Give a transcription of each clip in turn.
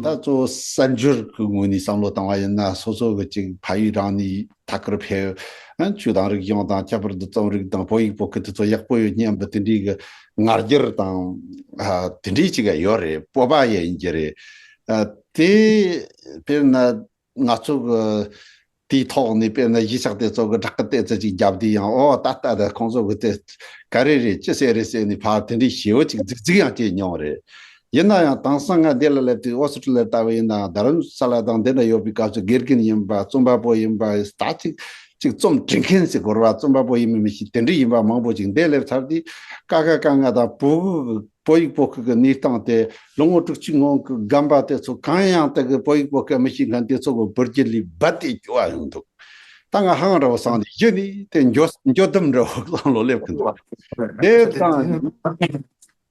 ད་གཙོ་བོ་གསར་འགྱུར་གྱི་ངོས་ནས་བསམ་བློ་བཏང་བ་ཡིན་ན་སོ་སོ་གི་གཅིག་ཕ་ཡུལ་རང་ནས་ཐད་ཀར་བལ། ཆུ་དང་རིག་གཞུང་དང་ཁྱད་པར་དུ་རྩོམ་རིག་དང་བོད་ཡིག་པོ་ཁི་དེ་ཚོ་ཡག་པོ་ཡོད་སྙམ་པའི་དེ་འདྲིའི་ངར་སྒྱར་དང། དེ་འདྲིའི་ཅིག་ཡ་ཡོད་རེད་སྤོབས་པ་ཡ་ཡིན་རྒྱུ་རེད། དེ། དཔེར་ན། ང་ཚོ་གི། དེའི་ཐོག་ནས་དཔེར་ན་གཞིས་ཆགས་དེ་ཚོ་གི་བསྒྲགས་སྐད་གཏད་ཚོད་ཅིག་བརྒྱབ་དུས་ཡང་ཨོ་ད་ལྟ་ཁོང་ཚོ་གི་དེ། ག་རེ་རེད་ཅི་ཟེར་རེད་ཟེར་ནས་ཕར་དེ་འདྲའི་ཞེའུ་ཅིག་རྫིག་རྫིག་ཡང་སྐྱེས་མྱོང་རེད། ཡིན་ན་ཡང་དེང་སང་ང་འདི་ལ་སླེབས་དུས་ཨོ་སི་ཀྲི་ལི་ཡར་ལྟ་བུ་ཡིན་ནའང་རྡ་རམ་ས་ལ་དང་འདི་འདྲ་ཡོད་པའི་སྐབས་སུ་དགེ་རྒན་ཡིན་པ་རྩོམ་པ་པོ་ཡིན་པ་ད་ཅིག་ཅིག་རྩོམ་འབྲི་མཁན་ཞིག་གོ་ར་རྩོམ་པ་པོ་ཡིན་མིན་མི་ཤེས་དེ་འདྲའི་ཡིན་པ་མང་པོ་ཞིག་འདི་སླེབས་ཚར་དུས་ཀ་ཁ་ཀ་ང་དང་བོད་བོད་ཡིག་པོ་ཁུལ་གྱི་གནས་སྟངས་དེ་ལོ་ངོ་དྲུག་ཅུའི་སྔོན་གྱི་རྒན་པ་དེ་ཚོ་གང་ཡང་དེ་གའི་བོད་ཡིག་པོ་ཁའི་མི་ཤེས་མཁན་དེ་ཚོ་གི་བུར་རྗེས་ལུས་རྦད་དེ་རྒྱུ་བ་ཡོང་འདུག་ད་ང་ཧང་ར་བོ་སངས་ཏེ་གཞི་ནས་དེ་འགྱོ་འགྱོ་ལྡུམ་ར་བོ་སངས་ལོ་སླེབས་གི་འདུག་དེ་དང།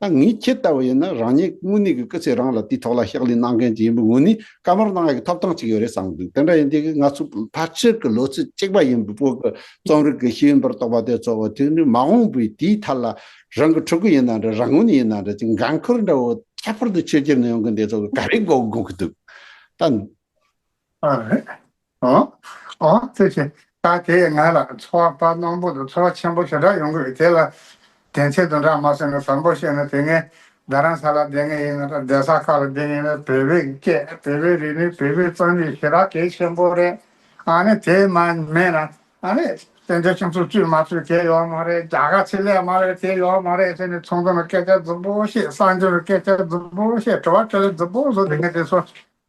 ད་ངས་ཁྱེད་ལྟ་བུ་ཡིན་ན་རང་ཉིད་དངོས་གནས་ཀྱི་སྐུ་ཚེ་རིང་ལ་དེའི་ཐོག་ལ་ཕྱག་ལས་གནང་མཁན་གྱི་ཡིན་པའི་ངོས་ནས་བཀའ་མོལ་གནང་ཡག་གི་ཐོབ་ཐང་ཅིག་ཡོད་རེད་བསམ་འདུག་དེ་འདྲ་ཡིན་དུས་ང་ཚོ་ཕལ་ཆེར་གྱི་ལོ་ཚིགས་གཅིག་པ་ཡིན་པའི་བོད་ཀྱི་རྩོམ་རིག་གི་ཤེས་ཡོན་པར་གཏོགས་པ་དེ་ཚོ་བོད་དོན་ནི་མ་འོངས་པའི་དུས་ཐད་ལ་རང་གི་ཕྲུ་གུ་ཡིན་ན་འདྲ་རང་ངོས་ནས་ཡིན་ན་འདྲ་ཅིག་འགན་ཁུར་འདྲ་བོ་ཁྱད་པར་དུ་ཆོས་རྒྱུད་ནང་ཡོང་མཁན་དེ་ཚོ་ག་རེ་གོ་དགོས་ཀྱི་འདུག་ད། ཨོ། ཨོ། ཚེ་ཆེ། ད་དེས་ང་ལ་འཚོ་བ་དཔའ་སྣོམ་པོ་དང་འཚོ་བ་ཆེན་པོ་ཞེ་དྲག་ཡོང་གི་ཡོད་དེ་ལ། དེང་ཚེ་དུང་གྲགས་མ་སོན་ནས་བཟང་པོ་བཤད་ནས་དེ་སྔའི་རྡ་རམ་ས་ལ་བསྡད་ངེས་ཡིན་ན་དང་རྡ་ས་ཁག་ལ་བསྡད་ངེས་ན་བོད་པའི་སྐད་བོད་པའི་རིག་གནས་བོད་པའི་རྩོམ་རིག་ཞེ་དྲག་གལ་ཆེན་པོ་རེད། ཨ་ནི་དེ་མ་མེད་ན་ཨ་ནི་བཙན་བྱོལ་སྤྱི་ཚོགས་བཙུད་མ་བཙུད་དེ་ཡོད་མ་རེད་རྒྱ་གར་ཚེ་ལས་མ་ལས་དེ་ཡོད་མ་རེད་ཚེ་ནི་ཚོང་དོན་ལ་སྐད་ཆ་རྫུན་པོ་བཤད་གསང་སྤྱོད་ལ་སྐད་ཆ་རྫུན་པོ་བཤད་དྲི་བ་དྲི་ལེ་རྫུན་པོ་བཟོ་དེ་ངས་དེ་སོ་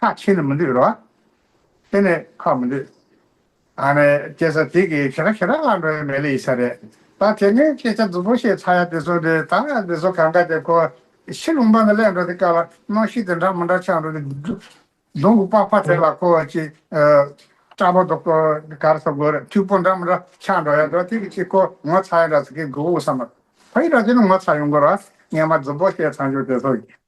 ཁ་ཕྱེ་ནས་མི་འདོད་རོ། ཕྱེ་ནས་ཁ་མི་འདོད། ཨ་ནི་སྐྱེ་ས་དེ་གི་ཕྱི་ར་ཕྱི་ར་ལ་འགྲོ་ཡ་མེད་ལ་ཡི་ས་རེད་ད་དེ་སྔའི་སྐད་ཆ་རྫུན་པོ་བཤད་ཚར་ཡ་དེ་ཚོ་དེ་ད་དེ་ཚོ་གང་ག་དེ་ཁོ་ཕྱི་ལུང་པ་ནས་སླད་འགྲོ་དེ་ག་ལ་གནང་ཤི་དེ་འདྲ་མི་འདྲ་ཆགས་འགྲོ་དེ་གདོང་གི་པགས་པ་དེ་ལ་ཁོ་ཅི་སྐྲ་པོ་དོག་དོག་ག་ར་ས་གོ་ར་ཐུག་པོ་འདྲ་མི་འདྲ་ཆགས་འགྲོ་ཡ་འགྲོ་དེ་གི་ཕྱི་ཁོ་ངོ་ཚ་ཡ་འདྲ་ཟེར་གི་གི་འུ་ས་མ་ཕ་ཡི་ར་དེ་ནི་ངོ་ཚ་ཡོང་གོ་ར་ངས་མ་རྫུན་པོ་བཤད་ཚར་འཇུག་དེ་ཚོ་གི།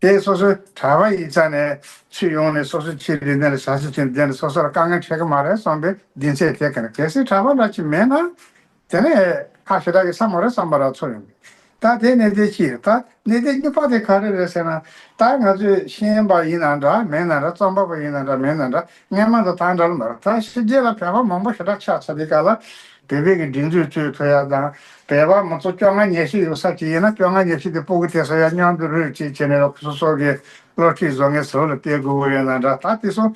དེས་སོ་སོའི་གྲྭ་པ་ཡིས་ཅག་ནས་ཚུད་ཡོང་ནས་སོ་སོའི་ཁྱིའི་རིན་དེ་ལ་བྱ་ཞིག་བྱིན་དེ་ནི་སོ་སོ་ལ་དཀའ་ངལ་འཕྲད་ཀྱི་མ་རེད་བསམ་པའི་སྡིངས་ཆའི་ཐད་ཀ་ནས་གལ་སྲིད་གྲྭ་པ་ལ་ཁྱི་མེད་ན། དེ་ནི་ཨེ། ཁ་ཞེ་དྲག་གི་ས་མ་རེད་བསམ་པ་ར་ཚོར་ཡོང་གི། ད་དེའི་གནད་དོན་ཅི་རེད་ད་གནད་དོན་སྨྱུག་པགས་དེ་ག་རེ་རེད་ཟེར་ན། ད་ང་ཚོས་ཤེས་ཡོན་པ་ཡིན་ན་འདྲ་མེད་ན་འདྲ་རྩོམ་པ་པོ་ཡིན་ན་འདྲ་མེད་ན་འདྲ་སྔས་མ་དང་ཐང་དྲལ་མར་ཐང་ཕྱི་རྒྱལ་ལ་བལ་བ་མང་པོ་ཞེ་དྲག་ཆགས་ཚར་དེ་ག་ལ། བོད་པའི་གི་སྒྲིག་འཛུགས་གཙོས་ཐོ་ཡ་དང་བལ་བ་མང་ཚོགས་བཅོ་ལྔ་ཉེར་བཞི་ཡོད་ས་ཅིག་ཡིན་ན་བཅོ་ལྔ་ཉེར་བཞི་དེ་སྤུ་གུ་ཐེ་ས་ཡ་མཉམ་དུ་རུད་ཅིག་བྱས་ནས་ལོ་ཁྲི་སོ་སོ་གི་ལོ་ཁྲི་བཟོ་ངའི་ཟོ་ལ་སྟེར་དགོས་ཀུ་ཡོད་ན་འདྲ་ད་དེ་སོང་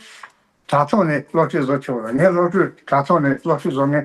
དྲ་ཐོག་ནས་ལོ་ཁྲི་བཟོ་ཆོག་ལ་ངའི་ལོ་ཁྲུས་དྲ་ཐོག་ནས་ལོ་ཁྲི་བཟོ་ངའི།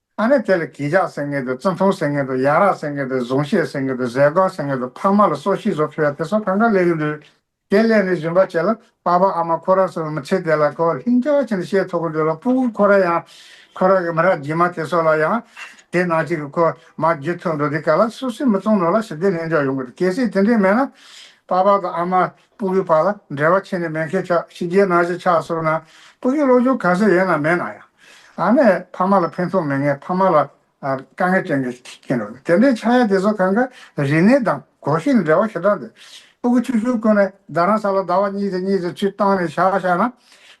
ཨ་ནེ་དེ་ལ་གིང་ཇག་སེང་གེ་དང་ཙུན་ཐུང་སེང་གེ་དང་ཡག་རག་སེང་གེ་དང་གཟུངས་བཤད་སེང་གེ་དང་ཟས་གོས་སེང་གེ་དང་འཕགས་མ་ལ་སོགས་ཤིང་བཟོ་ཕུལ་བ་དེ་སོགས་གང་ག་ལས་ཀྱི་ལུས། དེ་སླད་ནས་བཞིན་པ་བྱས་ལ་པགས་པ་ཨ་མ་ཁོ་ར་སོགས་མི་ཚེ་དེ་ལ་ཁོ་ལྷིང་འཇགས་ཆེན་ཤེས་ཐོག་གི་འགྲོས་ལ་སྤུ་གུ་ཁོ་ར་ཡང་ཁོ་ར་གི་མི་ར་རྗེས་མ་དེ་སོགས་ལ་ཡང། དེ་ནང་བྱེད་ཀྱི་ཁོ་མ་རྒྱུད་ཐོག་འགྲོ་དེ་ག་ལ་སུ་སི་མི་བཙོང་ནོར་ལ་ཞི་བདེ་ལྷིང་འཇགས་ཡོང་གི་རེད་གལ་སྲིད་དེ་འདྲས་མེད་ན། པགས་པ་དང་ཨ་མ་སྤུ་གུའི་བར་ལ་འབྲེལ་བ་ཆེ་ནས་མེད་མཁན་ཆགས་ཕྱི་རྒྱལ་ནང་བཞིན་ཆགས་སོང་ན་སྤུ་གུའི་བློ་སྦྱོང་ག་ཚོད་ཡོད་ན་མེད་ན་ཡང་ཨ་མས་ཕ་མ་ལ་ཕན་ཐོགས་མེད་ངས་ཕ་མ་ལ་དཀའ་ངལ་སྤྲད་མཁན་ཞིག་ཡིན་རུང་དེ་འདྲའི་ཆགས་ཡ་དེ་ཚོ་གང་གཱ་རི་ནི་དང་གོ་ཤིས་ནི་འབྲེལ་བ་ཞེ་དྲག་འདུག་སྤུ་གུ་ཆུ་ཤུར་བསྐོན་ནས་ཟླ་རང་ས་ལ་ཟླ་བ་གཉིས་དེ་གཉིས་དེ་ཚུད་བཏང་ནས་བཞག་བཞག་ན་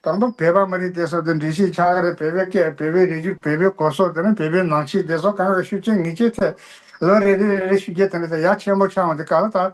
དང་པོ་བལ་པ་མི་རིགས་དེ་སོགས་དེ་འདྲི་ཞིག་ཆགས་ཀ་རེད་བལ་པའི་སྐད་བལ་པའི་རིགས་རྒྱུད་བལ་པའི་གོ་སོགས་དེ་ནི་བལ་པའི་ནང་ཆེས་དེ་སོགས་གང་གཱ་ཤུལ་ཆེན་ངེས་ཅན་ཐད་ལོ་རེ་རེ་རེ་རེ་ཤུལ་རྒྱལ་དེ་འདྲ་དེ་ཡ་ཆེན་པོ་ཆགས་འོང་དེ་ག་ལ་ད།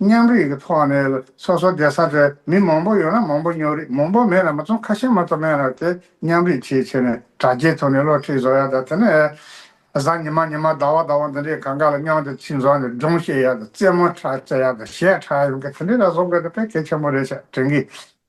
མཉམ་རིག་གི་ཐོག་ནས་སོ་སོ་སྡེ་ས་དེར་མི་མང་པོ་ཡོད་ན་མང་པོ་སྙོག་རིགས་མང་པོ་མེད་ན་མ་ཚོམ་ཁ་ཤས་མ་ཚོམ་མེད་ན་དེ་མཉམ་རིག་ཆེས་ཆེ་ནས་དྲ་རྒྱའི་ཐོག་ནས་སློབ་ཁྲིད་བཟོ་ཡག་དང་དེ་ནས་གཟའ་ཉི་མ་ཉི་མ་ཟླ་བ་ཟླ་བ་འདི་འདྲའི་གང་ག་ལ་སྙོག་དེ་ཚིག་བཟོ་ནས་སྒྲུང་བཤད་ཡག་དང་རྩེད་མོ་བྱེད་ཡག་དང་གཞས་གྲགས་ཡོང་གི་དེ་འདྲའི་ལ་བཟོ་དགོས་ན་ཕན་གལ་ཆེན་པོ་རེད་ཅེས་དྲན་གི།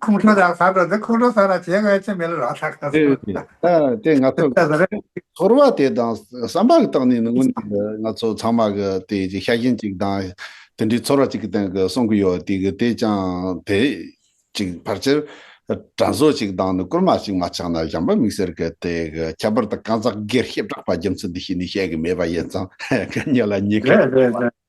ཁོང་ཁྲོ་དང་ཟ་འགྲོ་དེ་ཁོང་ཁྲོ་ཟ་ར་བྱེད་དགོས་ཡ་ཆེ་མི་ལ་རོགས་ཟ་ག་ཟེ་རེད། དེ་ང་ཚོ་ཚོར་བ་དེ་དང་བསམ་པ་གི་སྟེང་ནས་ནི་དངོས་གནས་ང་ཚོ་ཚང་མ་གི་དེ་ཤ་ཞེན་ཅིག་དང་དེ་འདྲའི་ཚོར་བ་ཅིག་གི་སྟེང་གི་སོང་གི་ཡོད་དེ་གི་དེ་ཅང་དེ་ཅིག་ཕར་ཆེར་དྲ་བཟོ་ཅིག་དང་ནི་བསྐུར་མ་ཅིག་མ་ཆག་ན་གཞན་པ་མིག་སེར་གི་དེ་གི་ཁྱད་པར་དུ་རྐང་ཚག་སྒེར་གཤིབ་དྲག་པ་རྒྱུ་མཚན་འདི་ཤེས་ནི་བཤད་གི་མེད་པ་ཡིན་ཙང་ག་ཉིད་ལ་ཉེས་ཁ་རེད་རེད་རེད།